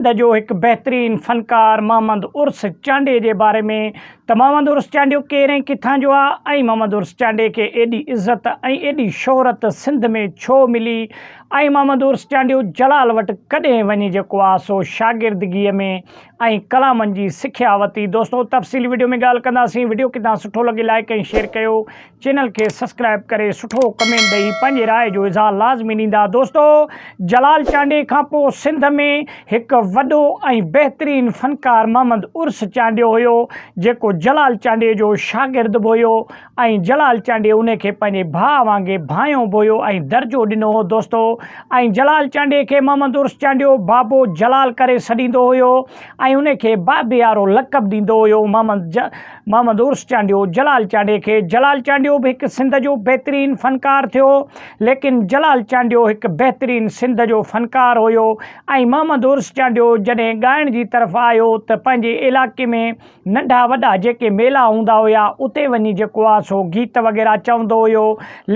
سنڌ جو هڪ بهترين فنڪار محمد عرس چانڊيي جي باري ۾ ته محمد عرس چانڊيو ڪير ۽ ڪٿان جو آ ۽ محمد عرس چانڊيي کي ايڏي عزت ۽ ايڏي شهرت سنڌ ۾ ڇو ملي ۽ محمد عرس چانڊيو جلال وٽ ڪڏهن وڃي جيڪو آ سو شاگردگيء ۾ ۽ ڪلامن جي سکيا وتي دوستو تفصيلي وڊيو ۾ ڳالهه ڪنداسين وڊيو ڪٿان سٺو لڳي لائيڪ ۽ شيئر ڪيو چينل کي سسڪرائب ڪري سٺو ڪمينٽ ڏئي پنهنجي راء جو اظهار لازمي ڏيندا دوستو جلال چانڊيي کان پو سنڌ ۾ هڪ وڏو ۽ بهترين فنڪار محمد عرس چانڊيو هيو جيڪو جلال چانڊيي جو شاگرد به هيو ۽ جلال چانڊيي ان کي پنهنجي ڀاء وانگي ڀانيو به هيو ۽ درجو ڏنو هو دوستو ۽ جلال چانڊيي کي محمد عرس چانڊيو بابو جلال ڪري سڏيندو هيو ۽ ان کي بابيارو لقب ڏيندو هيو محمد محمد عرس چانڊيو، جلال چانڊي کي، جلال چانڊيو به هڪ سنڌ جو بهترين فنڪار ٿيو، ليڪن جلال چانڊيو هڪ بهترين سنڌ جو فنڪار هيو ۽ محمد عرس چانڊيو جڏهن ڳائڻ جي طرف آيو ته پنهنجي علائقي ۾ ننڍا وڏا جيڪي ميلا هوندا هيا اتي وڃي جيڪو آ سو گيت وغيره چوندو هيو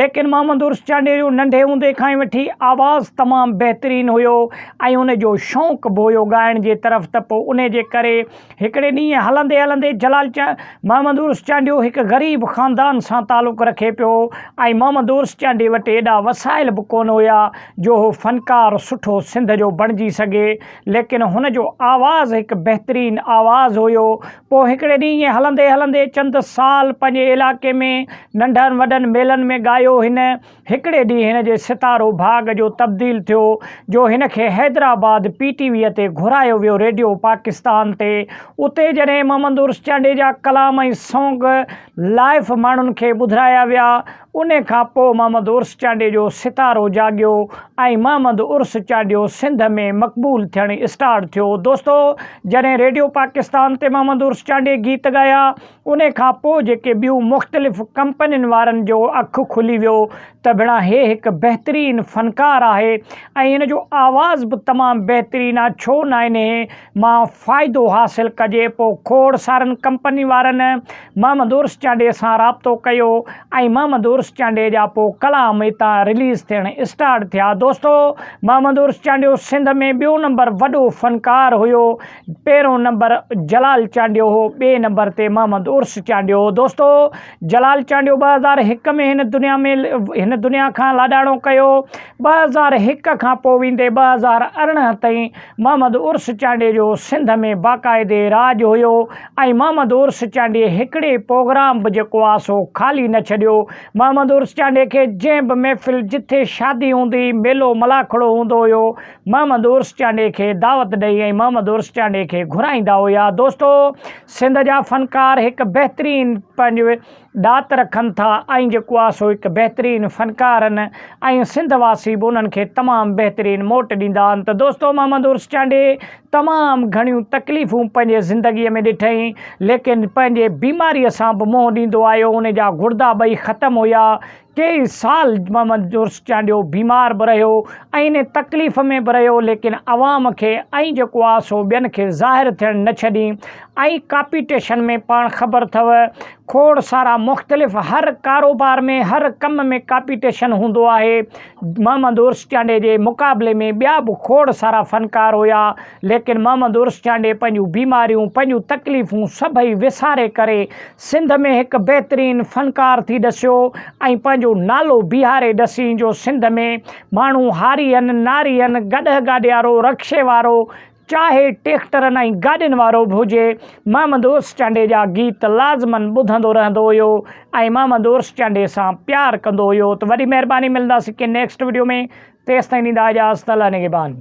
ليڪن محمد عرس چانڊيو جو ننڍي هوندي کان ئي وٺي آواز تمام بهترين هيو ۽ ان جو شونق به هيو ڳائڻ جي طرف ته پوء انهي جي ڪري هڪڙي ڏينهن هلندي هلندي جلال محمد عرس چانڊيو هڪ غريب خاندان سان تعلق رکي پيو ۽ محمد عرس چانڊي وٽ ايڏا وسائل به ڪونه هيا جو هو فنڪار سٺو سنڌ جو بڻجي سگهي ليڪن هن جو آواز هڪ بهترين آواز هيو پوء هڪڙي ڏينهن هلندي هلندي چند سال پنهنجي علائقي ۾ ننڍن وڏن ميلن ۾ ڳايو هن هڪڙي ڏينهن هن جي ستارو ڀاڳ جو تبديل ٿيو جو هن کي حيدرآباد پي ٽي ويء تي گهرايو ويو ريڊيو پاڪستان تي اتي جڏهن محمد عرس چانڊيي جا ڪلام ۽ سانگ لائيف ماڻهن کي ٻڌرايا ويا انهي کان پوء محمد عرس چانڊيي جو ستارو جاڳيو ۽ محمد عرس چانڊيو سنڌ ۾ مقبول ٿيڻ اسٽارٽ ٿيو دوستو جڏهن ريڊيو پاڪستان تي محمد عرس چانڊيي گيت ڳايا ان کان پوء جيڪي ٻيون مختلف ڪمپنين وارن جو اک کلي ويو ته ڀيڻا هي هڪ بهترين فنڪار آهي ۽ هن جو آواز به تمام بهترين آ ڇو نه انهي مان فائدو حاصل ڪجي پوء کوڙ سارن ڪمپنين وارن محمد عرس چانڊيي سان رابطو ڪيو ۽ محمد عرس چانڊيي جا پوء ڪلام هتان رليز ٿيڻ اسٽارٽ ٿيا دوستو محمد عرس چانڊيو سنڌ ۾ ٻيو نمبر وڏو فنڪار هيو پهريون نمبر جلال چانڊيو هو، ٻئي نمبر تي محمد عرس چانڊيو هو. دوستو جلال چانڊيو ٻه هزار هڪ ۾ هن دنيا ۾ هن دنيا کان لاڏاڻو ڪيو. ٻه هزار هڪ کان پوء ويندي ٻه هزار ارڙهن تائين محمد عرس چانڊيي جو سنڌ ۾ باقاعدي راڄ هيو ۽ محمد عرس چانڊيي هڪڙي پوگرام به جيڪو آ سو خالي نه ڇڏيو. محمد عرس چانڊيي کي جنهن به محفل جٿي شادي هوندي هئي ميلو ملاکڙو هوندو هيو محمد عرس چانڊيي کي دعوت ڏئي ۽ محمد عرس چانڊيي کي گهرائيندا هيا. دوستو! سنڌ جا فنڪار هڪ بهترين پنهنجو ڏات رکن ٿا ۽ جيڪو آ سو هڪ بهترين فنڪارن ۽ سنڌ واسي به انهن کي تمام بهترين موٽ ڏيندا آهن ته دوستو محمد عرس چانڊيي تمام گهڻيون تڪليفون پنهنجي زندگي ۾ ڏٺئين ليڪن پنهنجي بيماري سان به منهن ڏيندو آيو ان جا گڙدا ٻئي ختم هيا ٽي سال محمد جورس چانڊيو بيمار به رهيو ۽ انهي تڪليف ۾ به رهيو ليڪن عوام کي ۽ جيڪو آ سو ٻين کي ظاهر ٿيڻ نه ڇڏي ۽ ڪاپيٽيشن ۾ پاڻ خبر ٿئو کوڙ سارا مختلف هر ڪاروبار ۾ هر ڪم ۾ ڪاپيٽيشن هوندو آهي محمد عرس چانڊي جي مقابلي ۾ ٻيا به کوڙ سارا فنڪار هيا ليڪن محمد عرس چانڊي پنهنجون بيماريون پنهنجون تڪليفون سڀئي وساري ڪري سنڌ ۾ هڪ بهترين فنڪار ٿي ڏسيو ۽ پنهنجو نالو بيهاري ڏسين جو سنڌ ۾ ماڻهو هارين، نارين، گڏهه گاڏيارو، رڪشي وارو، چاهي ٽيڪٽرن ۽ گاڏين وارو به هجي، محمد عرس چانڊيي جا گيت لازمن ٻڌندو رهندو هيو ۽ محمد عرس چانڊيي سان پيار ڪندو هيو ته وڏي مهرباني ملنداسين ڪنهن نيڪسٽ وڊيو ۾ تيستائين ڏيندا اجازت الله نگهبان.